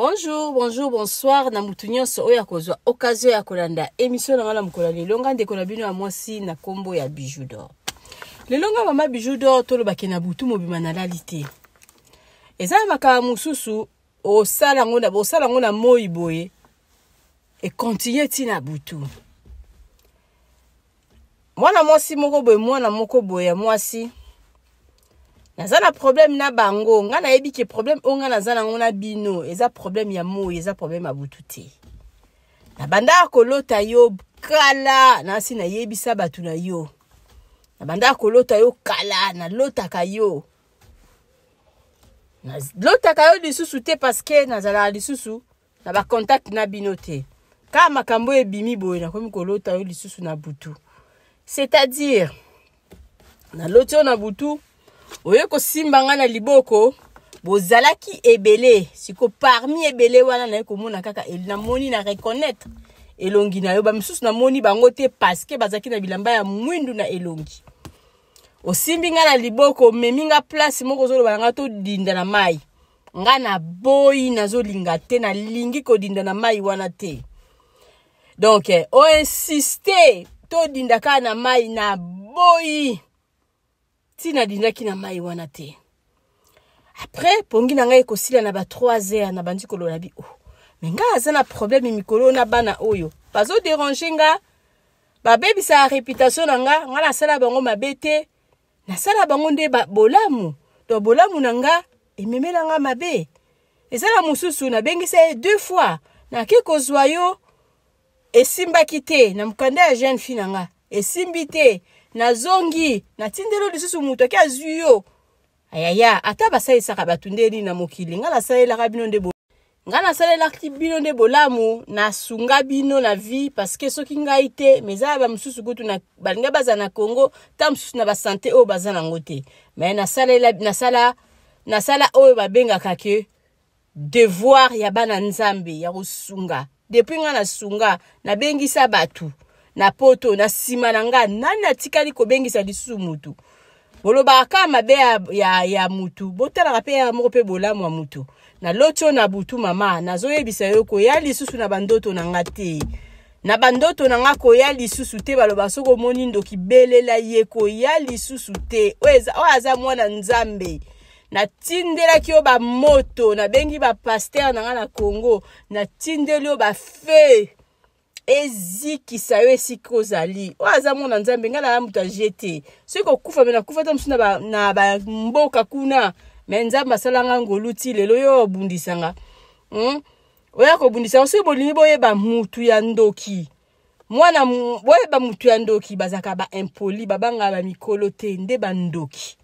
bonjour bonjour bonsoir na motu nyonso oyo akozwa okazio ya kolanda emission na ngai na mokolo ya lelo ngai ndeko na bino ya mwasi na nkombo ya bijou dor lelo ngai mama bijou dor tolobaki na butu mobima nalali te eza na makambo mosusu osala yango na bosala yango na moi boye ekontinue ti na butu mwana mwasi moko boye mwana moko boye ya mwasi naza na problème na bango ngai nayebi ke problème oyo ngai naza nango na bino eza problème ya moi eza problème ya butu te nabandaka kolota yo kala nasi nayebisa bato na yo nabandaka kolota yo kala nalotaka yo lotaka yo lisusu te parceke nazalaka lisusu na bacontacte na bino te kaka makambo oyo ebimi boye nakomi kolota yo lisusu na butu c'est-à-dire naloti oyo na butu oye kosimba ngai na liboko bozalaki ebele siko parmi ebele wana naye komona kaka namoni na reconnaître elongi na yo bamisusu namoni bango te parceke bazalaki na bilamba ya mwindu na elongi osimbi nga na liboko omemi nga place moko ozoloba na nga todinda na mai nga na boyi nazolinga te nalingi kodinda na mai wana te donc eh, oinsiste todinda kaka na mai na boyi ti nadindaki na mai wana te après pongi na ngai ekosila na ba 3 heures nabandi kolola bi oh me ngai aza na problème mikolo na bana oyo bazoderange nga babebisaka reputation na nga nga nasala bango mabe te nasala bango nde bolamu to bolamu na nga ememela nga mabe eza na mosusu nabengisa ye deux fois nake kozwa yo esimbaki te na mokanda ya jeune fille na nga esimbi te nazongi natindelo lisusu moto ake azwi yo ayaya ata basalisaka bato ndeni na mokili nga nasalelaka bino nde nga nasalelaki bino nde bolamu nasunga bino na vie parceke soki ngai te ma eza ya bamosusu kutu balingai bazala na congo ntango mosusu na basante oyo baza nango te me nasalela nasala nasala oyo babengaka ke devoir ya bana nzambe ya kosunga depuis nga nasunga nabengisa bato na poto na nsima na nga nani atikali kobengisa lisusu motu bolobaka kaka mabe ya, ya, ya mutu botalaka mpe ya moko mpe bolamu ya mutu na loti oyo na butu mama nazoyebisa yo koya lisusu na bandoto na nga te na bandoto na nga koya lisusu te baloba soki omoni ndoki belela ye koya lisusu te oyo aza mwana nzambe natindelaki yo bamoto nabengi bapaster na nga na congo natindeli yo bafe ezikisa yo esika ozali oyo aza mwana nzambe ngai naa moto aje te soki kokufa me nakufa ata mosusu na bamboka kuna me nzambe asala ngai ngolu ti lelo yo obundisa nga hmm? oya kobundisa nga soki bolingi boyeba motu ya ndoki mwana boyeba motu ya ndoki bazalaka baimpoli babangaka bamikolo te nde bandoki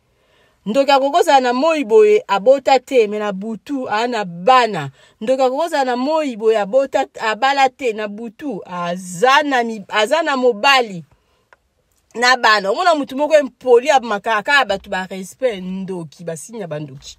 ndoki akoki kozala na moi boye abota te me na butu aa na bana ndoki akoki kozala na moi boye abota abala te na butu aza na, aza na mobali na bana omona motu moko empoli abmakaka kaka bato barespect ndoki basini ya bandoki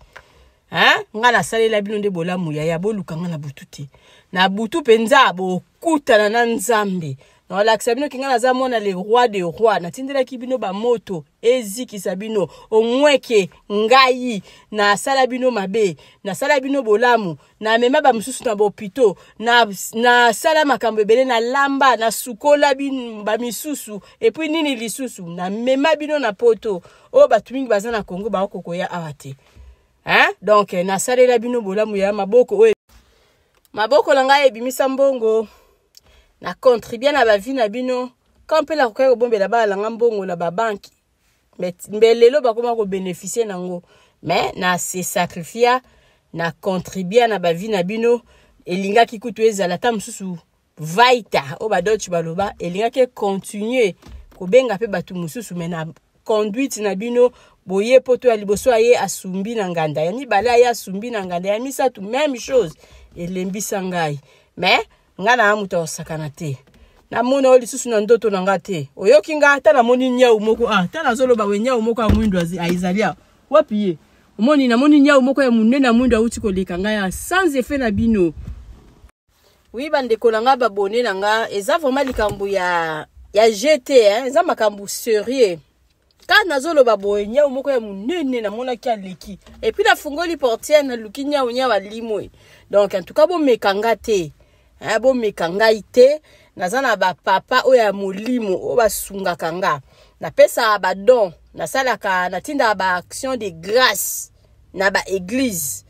hein nga na salela bino nde bolamu yaya boluka nga na butu te na butu penza bokutana na nzambe na olakisa bino kinga naza mwana le roi de roi natindelaki bino bamoto ezikisa bino omweke ngai nasala bino mabe nasala bino bolamu namema bamosusu na bopito nasala na makambo ebele nalamba nasukola bamisusu epuis nini lisusu namema bino na poto oyo bato mingi baza na congo baokokoya awa te hein donc nasalela bino bolamu ya maboko oyo maboko na ngai ebimisa mbongo na contribue na bavi na bino ka mpe nakokaki kobombela bana na ngai mbongo na babanki mbe lelo bakoma kobeneficie na yango mais na se sacrifia na contribua na bavi na bino elingaki kutu ezala ata mosusu vaita oyo badolce baloba elingaki econtinue kobenga mpe bato mosusu me na conduite na bino boye poto ya liboso aye asumbi na nganda ya mibale aye asumbi na nganda ya misato meme chose elembisa ngai me ngai naa moto ya kosakana te namona oyo lisusu na ndoto na ngai te oyoki ngai ata namoni nyau moko ah, ata nazoloba we nyau moko ya mwindo ezali awa wapi ye omoni namoni nyau moko ya monene ya mwindo auti koleka ngai sans effet na bino Oui ba ndeko na nga ba bonne na nga eza vraiment likambo ya ya GT hein eza makambo sérieux kaka nazoloba boye nyau moko ya monene namonaki aleki epuis nafungoli portiere naluki nyau nyau alimwe donc en tout cas bomeka nga te eh, bomeka ngai te naza na bapapa oyo ya molimo oyo basungaka nga napesaka badon nasalaka natindaka baaction de grâce na ba église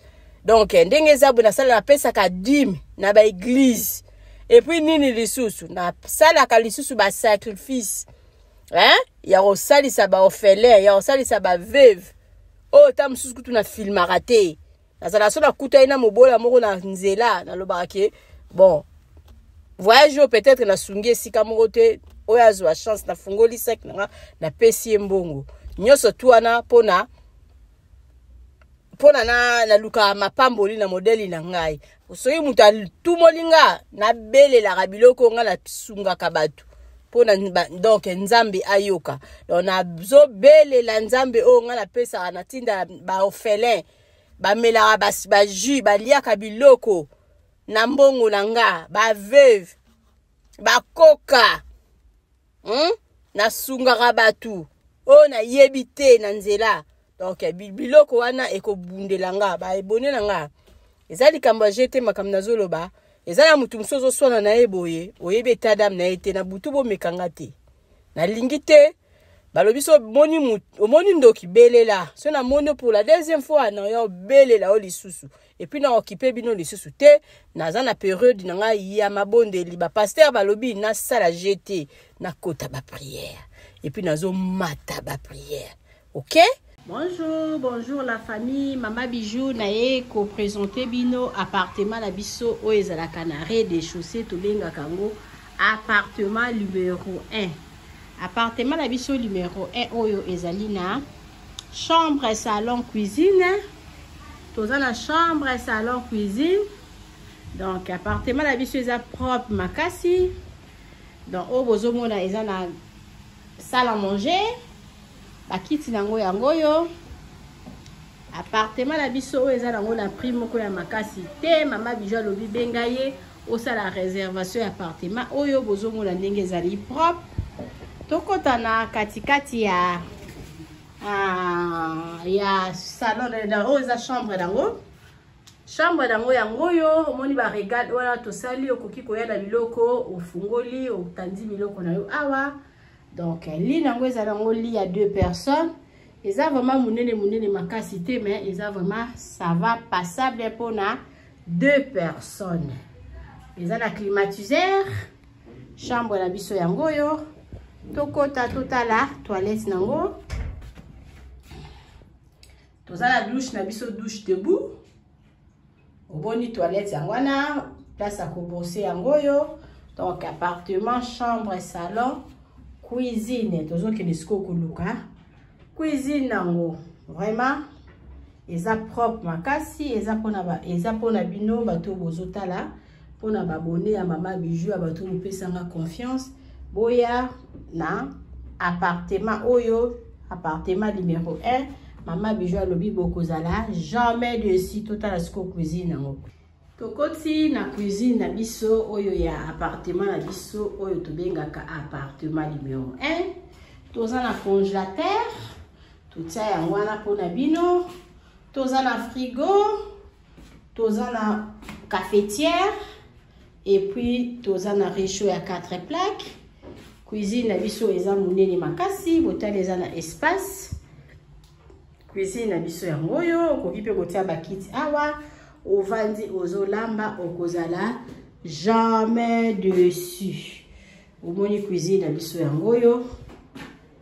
donc eh, ndenge eza boye nasala napesaka dime na ba église epuis nini lisusu nasalaka lisusu basacrifice hein? ya kosalisa baorphelin ya kosalisa baveve oyo oh, ta mosusu kutu na filmaka te nazala so nakuta ye na mobola moko na nzela nalobaka ke bon voyage oyo peut-être nasungi esika moko te oyo azwa chance nafungoli sec nanga napesi ye mbongo nyonso tu wana mpona mpona na naluka mapamboli na modeli na ngai soki moto atumoli nga nabelelaka biloko ngai nasungaka bato mpona donk nzambe ayoka don nazobelela nzambe oyo ngai napesaka natinda baorphelin bamelaka bajus baliaka biloko na mbongo na nga baveuve bakoka hmm? nasungaka bato oyo nayebi te na nzela donc biloko wana ekobundela nga baebone na nga eza likambo ya jete makambo nazoloba eza na moto mosusu ozoswana na ye boye oyebi eta dame na ye te na butu bomekanga te nalingi te balobi so omoni ndoki belela so namoni mpo la deuxième fois na yo belela yo lisusu epuis na okipe bino lisusu te naza na periode na ngai ya mabondeli bapaster balobi nasala je te nakota bapriere epuis nazomata bapriere ok bonjour bonjour la famille mama bijou naye kopresente bino appartement na biso oyo ezalaka na re de chaussée tobengaka yango appartement numero 1 appartement na biso numero 1 oyo ezali na chambre salon cuisine toza na chambre salon cuisine donc appartement na biso eza propre makasi donc oyo bozomona eza na salle à manger bakiti na yango yango oyo appartement na biso oyo eza nango na prix moko ya makasi te mama bijo alobi benga ye osala reservation ya appartement oyo bozomona ndenge ezali propre tokota na katikati ya ah, ya salon oyo eza chambre nango chambre nango yango oyo omoni baregale wana tosali okoki koya na biloko ofungoli otandi biloko na yo awa donc li nango ezali yango li ya deux personnes eza vraiment munene munene makasi te mais eza vraiment ça va passable mpo na deux personnes eza na climatiseur chambre na biso yango oyo tokota totala toilette nango toza na douche na biso douche debout oboni toilette yango wana place ya kobrose yango oyo donc appartement chambre salon cuisine tozokende sikoyo koluka cuisine yango vraiment eza propre makasi eza mpona bino bato bozotala pona ba abonne ya mama bijou ya bato mopesanga confiance boya na appartement oyo appartement numéro 1 mama bijou alobi bokozala jamais desi totala siko cuisine yango tokoti na cuisine na biso oyo ya appartement na biso oyo tobengaka appartement numéro 1 toza na congélateur totia yango wana mpo na bino toza na frigo toza na cafetière et puis toza na rechaud ya 4 plaque cuisine na biso eza monene makasi botali eza na espace cuisine na biso yango oyo okoki mpe kotia bakiti awa ovandi ozolamba okozala jamais dessus omoni cuisine na biso yango oyo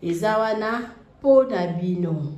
eza wana mpo na bino